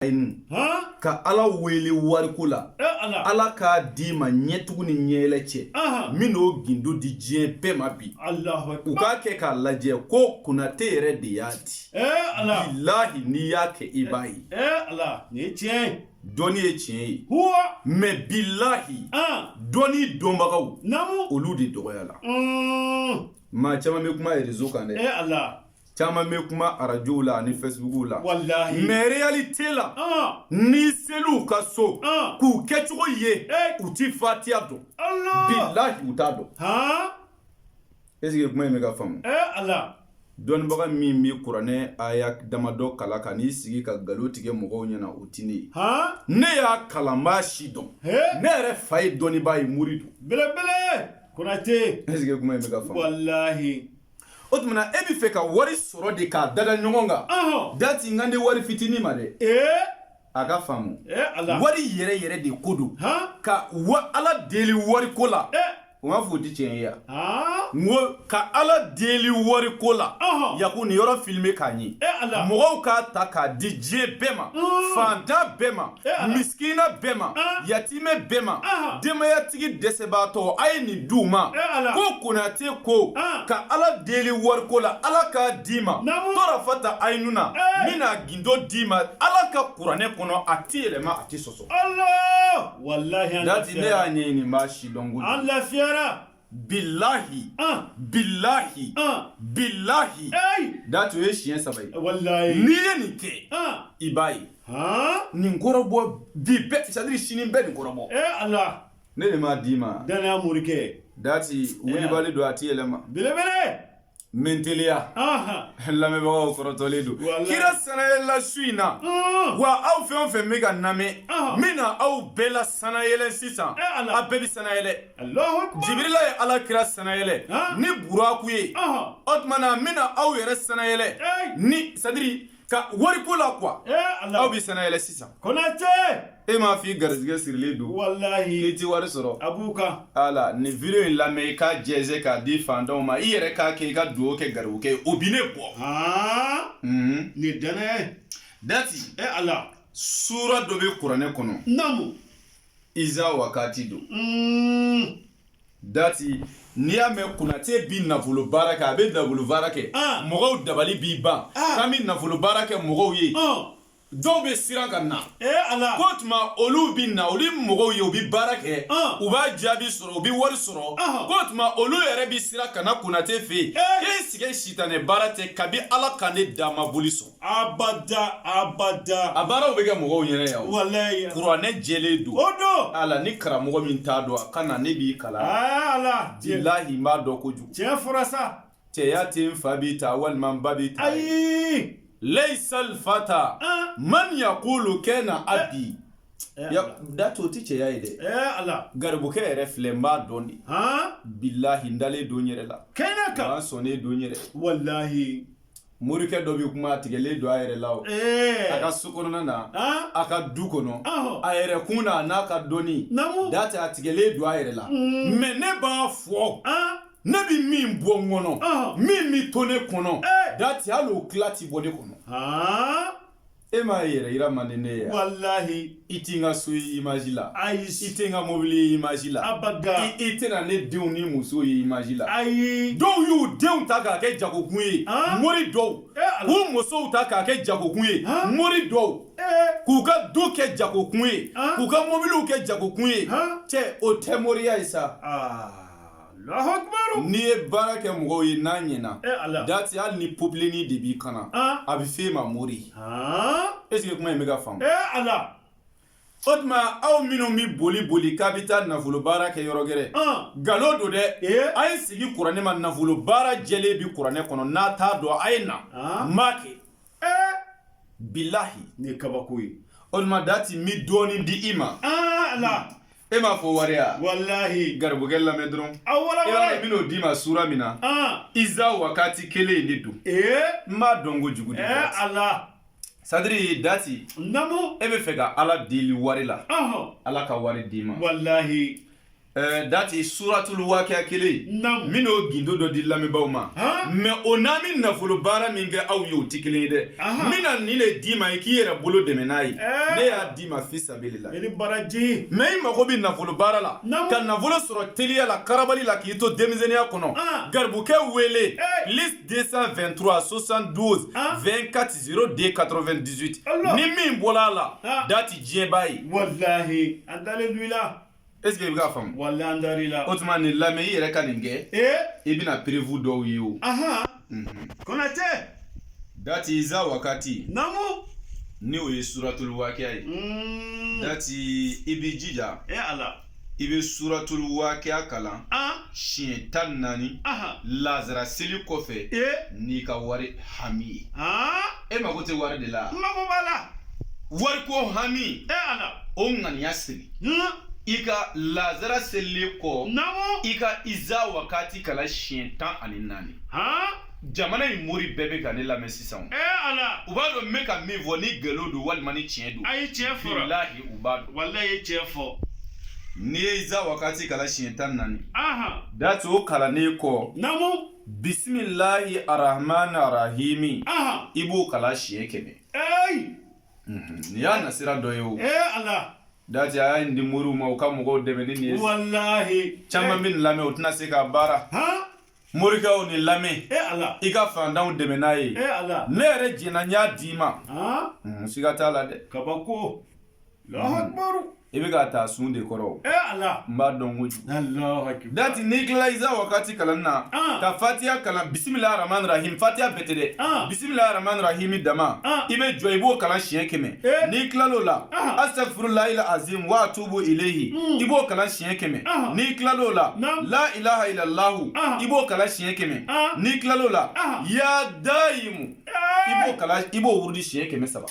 ɲɛlaɲini ka ala wele wariko la ala k'a d'i ma ɲɛtugu ni ɲɛɛlɛ cɛ n bɛn'o gindo di diɲɛ bɛɛ ma bi u k'a kɛ k'a lajɛ ko Konate yɛrɛ de y'a di bilahi n'i y'a kɛ i b'a ye dɔnni ye tiɲɛ ye mais bilahi dɔnni dɔnbagaw olu de dɔgɔyala maa caman bɛ kuma réseau kan dɛ caman bɛ kuma arajow la ani Facebookw la mais réalité la n'i sel'u ka so k'u kɛcogo ye u tɛ fatiya dɔn bilahi u t'a dɔn est ce que kuma in bɛ ka faamu dɔnnibaga min bɛ kuranɛ aya damadɔ kalan ka n'i sigi ka nkalon tigɛ mɔgɔw ɲɛna o tɛ ne ye ne y'a kalan n b'a sidɔn ne yɛrɛ fa ye dɔnnibaa ye mori don belebele konate est ce que kuma in bɛ ka faamu walahi o tumana e bɛ fɛ ka wari sɔrɔ de k'a dada ɲɔgɔn kan Ɔhɔn. dati n kan tɛ wari fitini ma dɛ Ee. a ka faamu Ee Ala. wari yɛrɛ yɛrɛ de ko don Han. ka ala deli wari ko la Ee. o m'a fɔ o tɛ tiɲɛ ye yan Aa. n ko ka ala deli wari ko la Ɔhɔn. yaku nin yɔrɔ filime k'a ɲɛ Ee Ala. mɔgɔw k'a ta k'a di diɲɛ bɛɛ ma Unn. fantan bɛɛ ma miskina bɛɛ ma yatimɛ bɛɛ ma denbayatigi dɛsɛbaatɔ a ye nin d'u ma ko Konate ko ka ala deli wariko la ala k'a d'i ma torafata ayinu na n bɛn'a gindo d'i ma ala ka kuranɛ kɔnɔ a tɛ yɛlɛma a tɛ sɔsɔ wala ne y'a ɲɛɲini n b'a sidɔn lafiyayara bilahi bilahi bilahi dati o ye siɲɛ saba ye n'i ye nin kɛ i b'a ye nin kɔrɔbɔ bi bɛɛ c'est à dire sini bɛɛ nin kɔrɔbɔ ne de m'a d'i ma danaya morikɛ dati wulibali don a ti yɛlɛma belebele N bɛ n teliya, anhan, lamɛnbagaw kɔrɔtɔlen don, walahi, kira sanayɛlɛla su in na, ɔɔ, wa aw fɛn o fɛn bɛ ka n lamɛn, ɔnhɔn, n bɛna aw bɛɛ la sanayɛlɛ sisan, e Ala, aw bɛɛ bɛ sanayɛlɛ, Alahu akbar, Jibirila ye Ala kira sanayɛlɛ, han, ni buraku ye, ɔnhɔn, o tuma na n bɛna aw yɛrɛ sanayɛlɛ, ee, ni c'est à dire ka wari ko la quoi aw bɛ sanayɛlɛ sisan konate e m'a f'i garizigɛ sirilen don walahi i ti wari sɔrɔ a b'u kan ala nin video in lamɛn i k'a jɛnsɛn k'a di fantanw ma i yɛrɛ k'a kɛ i ka dugawu kɛ garibukɛ ye o bi ne bɔ nin ye danaya ye dati e ala suura dɔ bɛ kuranɛ kɔnɔ naamu iza wakati don dati n'i y'a mɛn konate bi nafolo baara kɛ a bɛ nafolo baara kɛ ah. mɔgɔw dabali bi ban ah. k'an bɛ nafolo baara kɛ mɔgɔw ye ah. dɔw bɛ siran ka na eh, k'o tuma olu bɛ na olu mɔgɔw ye u bɛ baara kɛ u b'a jaabi sɔrɔ u bɛ wari sɔrɔ k'o tuma olu yɛrɛ bɛ siran ka na konate fɛ yen eh. k'e sigi sitanɛ baara tɛ kabi ala ka ne da n ma boli sɔn abada abada a baaraw bɛ kɛ mɔgɔw ɲɛna yan walayi kuranɛ jɛlen don o don ala ni karamɔgɔ min t'a dɔn a ka na ne b'i kalan ala bilahi n b'a dɔn kojugu tiɲɛ fɔra sa cɛya tɛ n fa b'i ta walima n ba b'i ta ayi layisa alfata man yakulu kana abi dati o tɛ cɛya ye dɛ garibukɛ yɛrɛ filɛ n b'a dɔn de bilahi n dalen don n yɛrɛ la kɛnɛ kan n sɔnnen don n yɛrɛ walahi morikɛ dɔ bɛ kuma a tigɛlen don a yɛrɛ la o a ka so kɔnɔna na a ka du kɔnɔ a yɛrɛ kun na a n'a ka dɔnni dati a tigɛlen don a yɛrɛ la mɛ ne b'a fɔ ne bɛ min bɔ n kɔnɔ min bɛ to ne kɔnɔ dati hali o tila tɛ bɔ ne kɔnɔ e m'a yɛrɛ yira man di ne ye wa? walahi i tɛ n ka so ye imaji la ayi i tɛ n ka mobili ye imaji la abada i tɛna ne denw ni muso ye imaji la ayi dɔw y'u denw ta k'a kɛ jagokun ye An? mori dɔw Eh, Ala. k'u musow ta k'a kɛ jagokun ye An? mori dɔw ee k'u ka du kɛ jagokun ye An? k'u ka mobiliw kɛ jagokun ye An? cɛ o tɛ moriya ye sa aa N'i ye baara kɛ mɔgɔw ye n'a ɲɛna dati hali ni popilini de b'i kan na a bɛ fɔ e ma mori est ce que kuma in bɛ ka faamu o tuma aw minnu bɛ boli boli k'a bɛ taa nafolo baara kɛ yɔrɔ gɛrɛ nkalon don dɛ a ye sigi kuranɛ ma nafolo baara jɛlen bɛ kuranɛ kɔnɔ n'a t'a dɔn a ye na n ma kɛ bilayi nin ye kabako ye o tuma dati n bɛ dɔɔnin di i ma e m'a fɔ wari ya walahi garibukɛ lamɛn dɔrɔn a wala e b'a dɔn n bɛn'o d'i ma sura min na iza wakati kelen in de don n b'a dɔn kojugu dɛ ala sadiri dati namu e bɛ fɛ ka ala deli wari la ala ka wari d'i ma walahi Eh, dati suratul wakiya kelen n bɛn'o gindo dɔ di lamɛnbaaw ma mɛ o n'an bɛ nafolo baara min kɛ aw ye o tɛ kelen ye dɛ n bɛna nin de d'i ma i k'i yɛrɛ bolo dɛmɛ n'a ye eh. ne y'a d'i ma fi sa i ni baraji mɛ i mago bɛ nafolo baara la ka nafolo sɔrɔ teliya la karabali la k'i to denmisɛnninya kɔnɔ ah. garibukɛ wele plis 223 72 24 02 98 ni min bɔla a la ah. dati diɲɛ b'a ye walahi an dalen don i la est ce que i bɛ k'a faamu walahi an dar'i la o tuma nin lamɛn i yɛrɛ ka nin kɛ ee i bɛna perewu dɔw ye o ahan konatɛ dati iza wakati namu ni o ye suratul wakiya ye Mm. dati i b'i jija e ala i bɛ suratul wakiya kalan an siɲɛ tan ni naani aha lazara seli kɔfɛ e n'i ka wari hami ye aa e mago tɛ wari de la n mago b'a la wariko hami e ala o ŋaniya siri i ka lazara selilen kɔ i ka iza wakati kalan siɲɛ tan ani naani jamana in mori bɛɛ bɛ ka ne lamɛn sisan u b'a dɔn n bɛ ka min fɔ ni ngalon don walima ni tiɲɛ don a ye tiɲɛ fɔ walahi u b'a dɔn walahi i ye tiɲɛ fɔ n'i ye iza wakati kalan siɲɛ tan ni naani dati o kalannen kɔ bisimilahi arahman arahimi Aha. i b'o kalan siɲɛ kɛmɛ Hey. nin y'a nasira dɔ ye o Hey Allah. dati a y'a di moriw ma u ka mɔgɔw dɛmɛ ni nin ye Wallahi. caman bɛ nin lamɛn u tɛna se k'a baara Ha? morikɛw nin lamɛn Hey Allah. i ka faantanw dɛmɛ n'a ye Hey Allah. ne yɛrɛ jɛnna n y'a d'i ma Ha? Mm, siga t'a la dɛ Kabako. i bɛ ka taa sun de kɔrɔ n b'a dɔn ko dati n'i tilala iza wakati kalan na ka fatiya kalan bisimilahi arahmani arahimi fatiya bɛɛ tɛ dɛ bisimilahi arahmani arahimi dama i bɛ jɔ i b'o kalan siɲɛ kɛmɛ n'i tilala o la astagfirulahi azim wa atubu ilayhi i b'o kalan siɲɛ kɛmɛ n'i tilala o la la ilaha ila lahu i b'o kalan siɲɛ kɛmɛ n'i tilala o la ya dayimu i b'o kalan i b'o wurudi siɲɛ kɛmɛ saba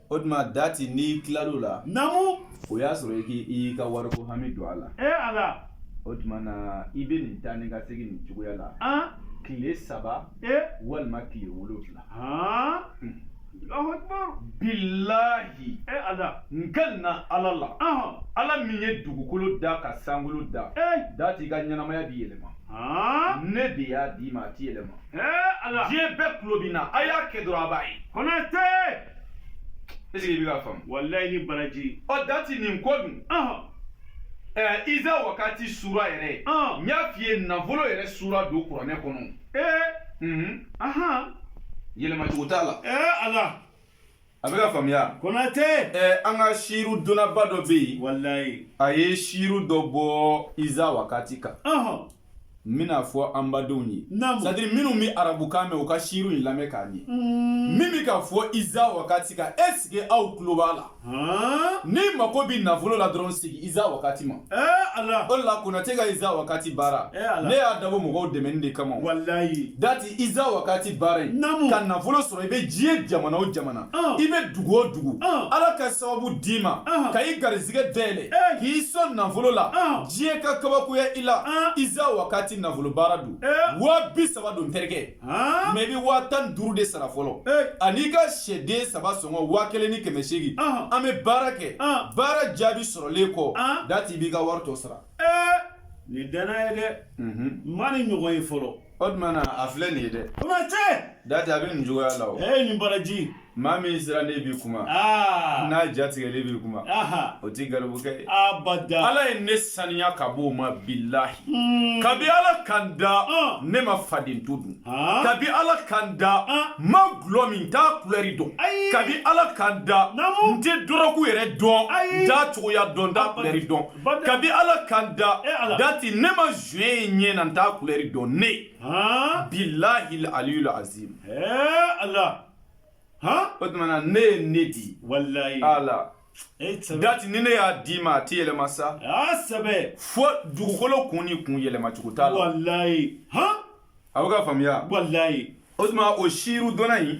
o tuma dati n'i tilal'o la namu o y'a sɔrɔ i k'i i ka wariko hami don a la e ala o tuma na i bɛ nin taa ni ka segin nin cogoya la an tile saba e walima tile wolonwula han Allahu akbar bilahi e ala n kalenna ala la ahɔn ala min ye dugukolo da ka sankolo da e dati i ka ɲɛnamaya bɛ yɛlɛma han ne de y'a d'i ma a tɛ yɛlɛma e ala diɲɛ bɛɛ tulo b'i na a y'a kɛ dɔrɔn a b'a ye konate est ce que i bɛ k'a faamu. walayi i ni baraji. ɔ dati nin ko dun. ɛɛ iza wakati sura yɛrɛ. n y'a f'i ye nafolo yɛrɛ sura don kuranɛ kɔnɔ. ee. yɛlɛma cogo t'a la. ee ala. a bɛ ka faamuya. konate. ɛɛ an ka siru dɔnnaba dɔ bɛ yen. walayi. a ye siru dɔ bɔ iza wakati kan. n bɛn'a fɔ an badenw ye c'est à dire minnu bɛ arabukan mɛn u ka siru in lamɛn k'a ɲɛ mm. min bɛ ka fɔ iza wakati kan est ce que aw tulo b'a la n'i mako bɛ nafolo la dɔrɔn sigi iza wakati ma o la konatɛ ka iza wakati baara ne y'a dabɔ mɔgɔw dɛmɛni de kama dati iza wakati baara in ka nafolo sɔrɔ i bɛ diɲɛ jamana o jamana i bɛ dugu o dugu ala ka sababu d'i ma ka i garizigɛ dayɛlɛ k'i sɔn nafolo la diɲɛ ka kabakoya i la iza wakati nafolo baara don waa bi saba don terikɛ mais i bɛ waa tan duuru de sara fɔlɔ an'i ka sɛden saba sɔngɔ waa kelen ni kɛmɛ seegin an bɛ baara kɛ baara jaabi sɔrɔlen kɔ dati i b'i ka wari tɔ sara nin danaya ye dɛ n ma nin ɲɔgɔn ye fɔlɔ O tuma na a filɛ nin ye dɛ. O ma tiɲɛ. Dati a bɛ nin cogoya la o. Ee nin baraji. Maa min sirannen bi kuma. Aa. N'a jatigɛlen bi kuma. Aha. O ti garibukɛ ye. Abada. Ala ye ne saniya ka b'o ma bilahi. Hmm. Kabi Ala ka n da. Ah. Ne ma faden to dun. Ah. Kabi Ala ka n da. Ah. N ma gulɔ min n t'a kulɛri dɔn. Ayi. Kabi Ala ka n da. Naamu. N tɛ dɔrɔgu yɛrɛ dɔn. Ayi. N t'a cogoya dɔn n t'a kulɛri dɔn. kabi ala ka n da eh, dati ne ma joint ye ɲɛ na n t'a kulɛri dɔn ne bilahi aliyul azim eh, ala o tumana ne ye ne di walayi ala eh, dati ni ne y'a d'i ma a ti yɛlɛma sa sɛbɛ fo dugukolo kun ni kun yɛlɛma cogo t'a la walayi a bɛ ka faamuya walayi o tuma o siiru dɔnna in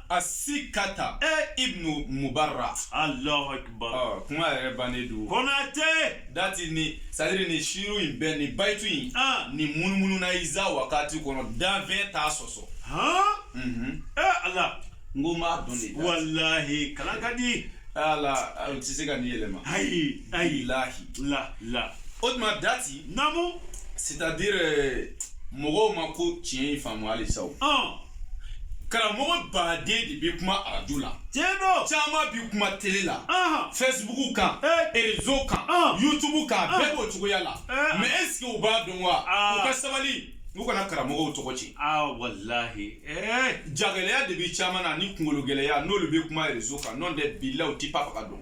A si ka ta ibnu mubara alahu akibaru kuma yɛrɛ bannen don konatɛ dati ni sari ni siiru in bɛn ni bayitu in ni munumununa iza wakati kɔnɔ danfɛn t'a sɔsɔ ala n ko ma dɔn walayi kalan ka di a tɛ se ka nin yɛlɛma ayi ayi lahi la la o tuma dati namu c'est à dire euh, mɔgɔw ma ko tiɲɛ in faamu halisa o ɔn karamɔgɔ baden de bɛ kuma arajo la tiɲɛ don caman bɛ kuma tele la ɔn facebook kan Eh. erezo kan Ah. youtube kan Ah. bɛɛ b'o cogoya la Eh. mais est ce que u b'a dɔn wa Ah. u ka sabali u kana karamɔgɔw tɔgɔ tiɲɛ aa walahi ɛɛ jagɛlɛya de bɛ caman na ni kungolo gɛlɛya n'olu bɛ kuma erezo kan n'o tɛ bilahi u tɛ pa faga dɔn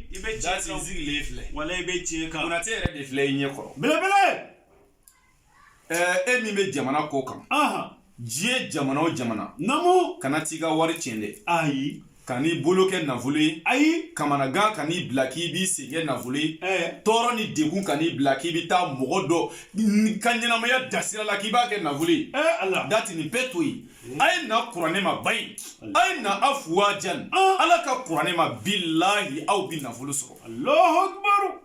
i bɛ tiɲɛ kan sigilen filɛ walayi i bɛ tiɲɛ kan konatɛ yɛrɛ de filɛ i ɲɛ kɔrɔ belebele ɛɛ e min bɛ jamana kɔkan diɲɛ jamana o jamana namu kana t'i ka wari tiɲɛ dɛ ayi kan'i bolo kɛ nafolo ye ayi kamanagan kan'i bila k'i b'i sen kɛ nafolo ye tɔɔrɔ ni degun kan'i bila k'i bɛ taa mɔgɔ dɔ ka ɲɛnamaya dasira la k'i b'a kɛ nafolo ye dati nin bɛɛ to yen a ye na kuranɛ ma ba in a ye na a fuwa jan ala ka kuranɛ ma bilahi aw bi nafolo sɔrɔ alahu akibaru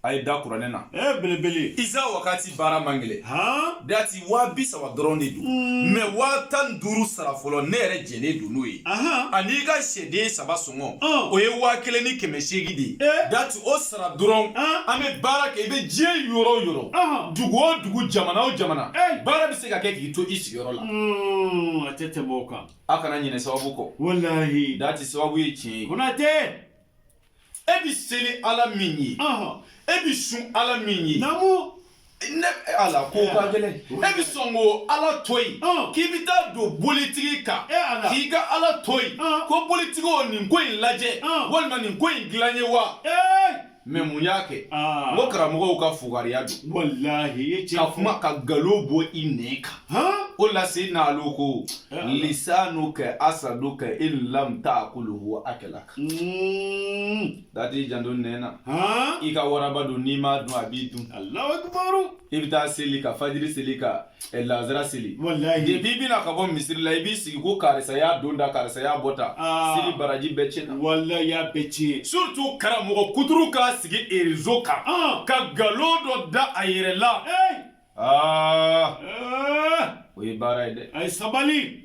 a ye da kuranɛ na ɛ belebele iza wakati baara man gɛlɛ han dati waa bi saba dɔrɔn de don mɛ waa tan ni duuru sara fɔlɔ ne yɛrɛ jɛlen don n'o ye ahan an'i ka sɛden saba sɔngɔ Ɔn. o ye waa kelen ni kɛmɛ seegin de ye Eh. dati o sara dɔrɔn Ɔn. an bɛ baara kɛ i bɛ diɲɛ yɔrɔ o yɔrɔ Ɔn. dugu o dugu jamana o jamana Eh. baara bɛ se ka kɛ k'i to i sigi yɔrɔ la. Hmm, a tɛ tɛmɛ o kan. a kana ɲinɛ sababu kɔ. walahi. dati sababu ye tiɲɛ ye. konatɛ. e bɛ seli ala min ye. e bɛ sun ala min ye. naamu. ni ala ko ka gɛlɛn e bɛ sɔn ka ala to yen k'i bɛ taa don bolitigi kan k'i ka ala to yen ko bolitigi o nin ko in lajɛ walima nin ko in dilan n ye wa. mɛ mun y'a kɛ n ko karamɔgɔw ka fugariya don walahi ka kuma ka galo bɔ i nɛn kan o la se n'alo ko lisanuka asaduka in lam takuluhu akalaka dati janto nɛn na i ka waraba don n'i m'a dun a b'i dun i bɛ taa seli ka fajiri seli ka eh, lazara seli wallahi depuis i bɛ na ka bɔ misiri la i b'i sigi ko karisa y'a don da karisa y'a bɔ ta ah. seli baraji bɛɛ tiɲɛna wallahi y'a bɛɛ tiɲɛ surtout karamɔgɔ kuturu k'a sigi réseau kan ah. ka galo dɔ da a yɛrɛ la ah. o ye baara ye dɛ a ye sabali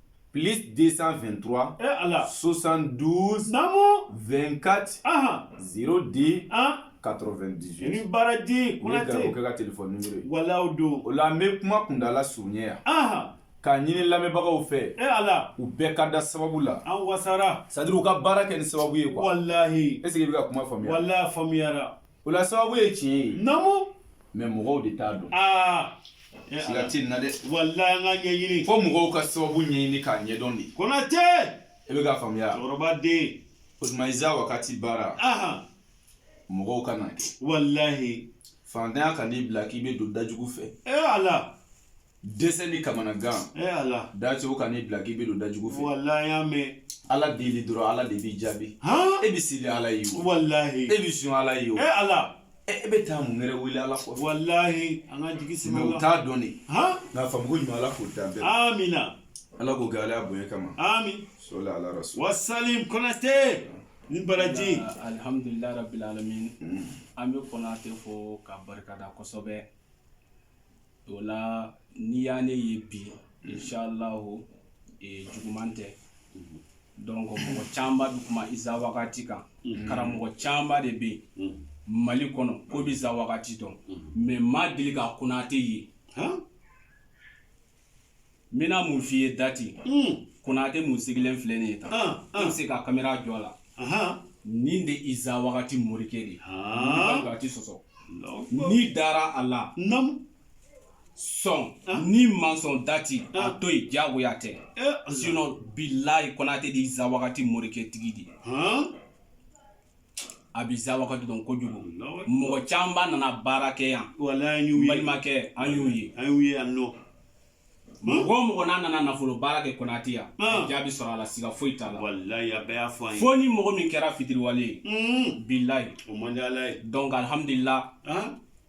plus 223 eh, Allah. 72 Namu 24 Aha. 02 ah. 98 ni baraji konate ne ka telefɔni numero ye walahi o don o la n bɛ kuma kundala surunya yan Aha. k'a ɲini lamɛnbagaw fɛ e eh, ala u bɛɛ ka da sababu la an wasara c'est à dire u ka baara kɛ ni sababu ye quoi walahi est ce que i bɛ ka kuma faamuya walahi faamuyara O la sababu ye tiɲɛ ye namu mɛ mɔgɔw de t'a dɔn aa eh, siga tɛ nin na dɛ walayi an k'a ɲɛɲini fo mɔgɔw ka sababu ɲɛɲini k'a ɲɛdɔn de konate e bɛ k'a faamuya cɛkɔrɔba den o tuma iza wakati baara ahan mɔgɔw ka n'a kɛ walayi fantanya kan'i bila k'i bɛ don da jugu fɛ ee ala dɛsɛ ni kamanagan e ala dacogo kan'i bila k'i bɛ don da jugu fɛ walayi y'a mɛn ala deli dɔrɔn ala de b'i jaabi e bɛ seli ala ye o walayi e bɛ sun ala ye o e ala e bɛ taa mun wɛrɛ wele ala kɔ walayi an ka jigi sigi o t'a dɔn de nka faamuko ɲuman ala k'o d'an bɛɛ amina ala k'o kɛ ala bonya kama amin sɔli ala rasul wasalim konate ni baraji alihamdulilayi rabil alamin mm. an bɛ konate fo k'a barika da kosɛbɛ o la n'i ye ne ye bi inch'Allahu ee juguman tɛ unhun donc mɔgɔ camanba be kuma iza wagati kan unhun karamɔgɔ camanba de be yen unhun Mali kɔnɔ k'o be iza wagati dɔn unhun mais ma deli ka Konate ye han n bɛna mun f'i ye dati konate min sigilen filɛ nin ye tan an bɛ se ka kamera jɔ a la nin de iza wagati morikɛ de ye a ti sɔsɔ n'i dara a la sɔn n'i ma sɔn dati a to yen diyagoya tɛ sinon bilayi konate de iza wagati morikɛ tigi de ye a bɛ iza wagati dɔn kojugu mɔgɔ camanba nana baara kɛ yan balimakɛ an y'u ye an y'u ye yan nɔ mɔgɔ o mɔgɔ n'a nana nafolo baara kɛ konate yan jaabi sɔrɔ a la siga foyi t'a la fo ni mɔgɔ min kɛra fitiriwale ye bilayi o man di ala ye donc alhamdulillah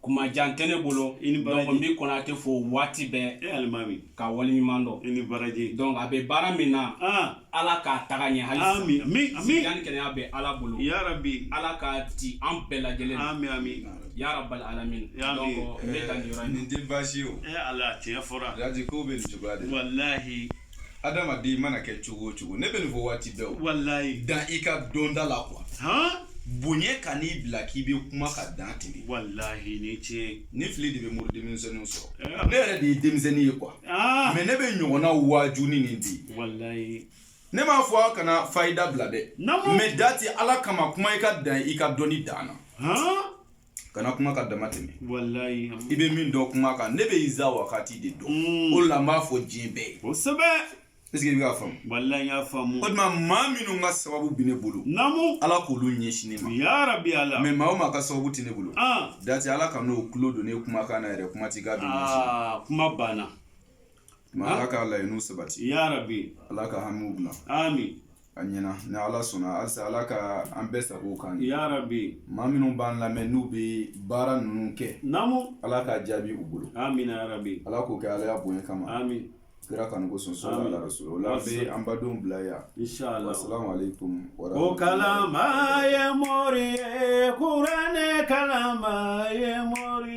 kuma jan tɛ ne bolo i ni baraji donc n bɛ konate fo waati bɛɛ e alimami ka wale ɲuman dɔn i ni baraji donc a bɛ baara min na ah ala k'a taga ɲɛ hali ami ami ami sijan ni kɛnɛya bɛ ala bolo ya rabbi ala k'a di an bɛɛ lajɛlen ami ami ya rabbal alamin ya donc n bɛ ka nin yɔrɔ in nin tɛ baasi ye o e ala tiɲɛ fɔra jaji ko bɛ nin cogoya de la wallahi adamaden mana kɛ cogo o cogo ne bɛ nin fɔ waati bɛɛ o walayi dan i ka dɔnda la quoi bonya kan'i bila k'i bɛ kuma ka dan tɛmɛ walayi ni tiɲɛ ni fili de bɛ mori denmisɛnninw sɔrɔ eh. ne yɛrɛ de ye denmisɛnnin ye quoi ah. mais ne bɛ ɲɔgɔnna waaju ni nin di walayi ne m'a fɔ aw kana fayida bila dɛ mais dati ala kama kuma i ka dan i ka dɔnni dan na kana kuma ka dama tɛmɛ i bɛ min dɔn kuma kan ne bɛ iza wagati de dɔn mm. o la n b'a fɔ diɲɛ bɛɛ ye kosɛbɛ est ce que i bɛ ka faamu walayi n y'a faamu o tuma maa minnu ka sababu bɛ ne bolo naamu ala k'olu ɲɛsin ne ma ya rabbi ala mais maa o maa ka sababu tɛ ne bolo ah. dati ala kan'o tulo don ne kumakan na yɛrɛ kuma t'i ka don ah, kuma banna Ma ala k'a laɲiniw sabati ya rabbi ala ka hamiw bila ami a ɲɛna ni ala sɔnna halisa ala ka an bɛɛ sago kan ya rabbi maa minnu b'an lamɛn n'u bɛ baara ninnu kɛ naamu ala k'a jaabi u bolo amin ya rabbi ala k'o kɛ alaya bonya kama ami kira kanu ko sɔn sɔrɔ la so la bɛ an badenw bila yan salamu alaikum o kalan ye mori ye kuranɛ kalan ye mori